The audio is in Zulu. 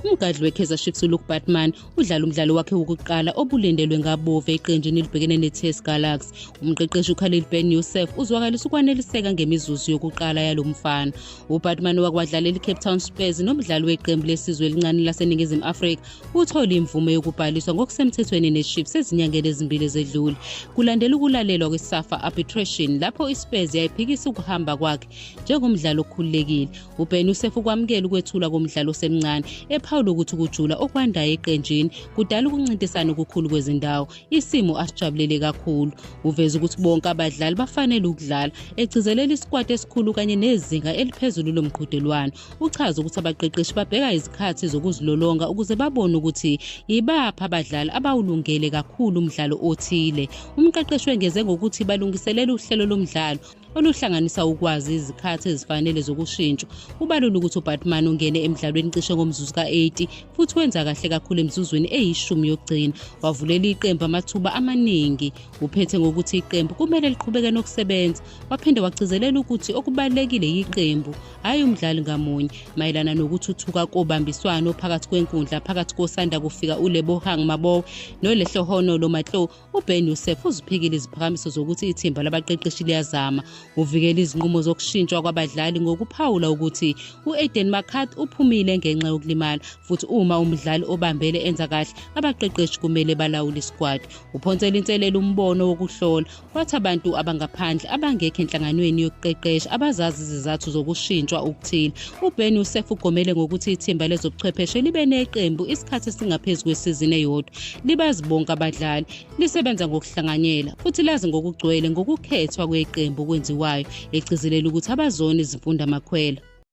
umgadli wekaizer chiefs uluke batman udlala umdlalo wakhe wokuqala obulindelwe ngabove eqenjini elibhekene ne-ts galax umqeqeshi ukhalil ben yusef uzwakalisa ukwaneliseka ngemizuzu yokuqala yalo mfana ubatman wakwadlalela icape town spurs nomdlali weqembu lesizwe elincane laseningizimu afrika uthole imvume yokubhaliswa ngokusemthethweni neChiefs ezinyangeni ezimbili ezedlule kulandela ukulalelwa kweSafa arbitration lapho iSpurs yayiphikisa ukuhamba kwakhe njengomdlali okhululekile. UBen Youssef ukwamukela ukwethulwa komdlali osemncane ephawula ukuthi ukujula okwandayo eqenjini kudala ukuncintisana okukhulu kwezindawo, isimo asijabulele kakhulu. Uveze ukuthi bonke abadlali bafanele ukudlala, egcizelela isikwati esikhulu kanye nezinga eliphezulu lomqhudelwano. uchaze ukuthi abaqeqeshi babheka izikhathi zokuzilolonga ukuze babone ukuthi yibaphi abadlali abawulungele kakhulu umdlalo othile umqeqeshi wengeze ngokuthi balungiselela uhlelo lomdlalo oluhlanganisa ukwazi izikhathi ezifanele zokushintshwa ubalula ukuthi ubatman ungene emdlalweni cishe ngomzuzu ka-80 futhi wenza kahle kakhulu emizuzwini eyishumi yokugcina wavulela iqembu amathuba amaningi uphethe ngokuthi iqembu kumele liqhubeke nokusebenza waphinde wagcizelela ukuthi okubalulekile yiqembu hhayi umdlali ngamunye mayelana nokuthuthuka kobambiswano phakathi kwenkundla phakathi kosanda kufika ulebohang mabow nolehlohono lomatlo uben yusef uziphikile iziphakamiso zokuthi ithimba labaqeqeshi liyazama uvikela izinqumo zokushintshwa kwabadlali ngokuphawula ukuthi u-aden macath uphumile ngenxa yokulimala futhi uma umdlali obambele enza kahle abaqeqeshi kumele balawule isikwadi uphonsela inselelo umbono wokuhlola Wathi abantu abangaphandle abangekho enhlanganweni yokuqeqesha abazazi izizathu zokushintshwa okuthile. UBen Youssef ugomele ngokuthi ithimba lezobuchwepheshe libe neqembu isikhathi esingaphezu kwesizini eyodwa. Libazi bonke abadlali, lisebenza ngokuhlanganyela futhi lazi ngokugcwele ngokukhethwa kweqembu okwenziwayo, egcizelela ukuthi abazona izimfundamakhwela.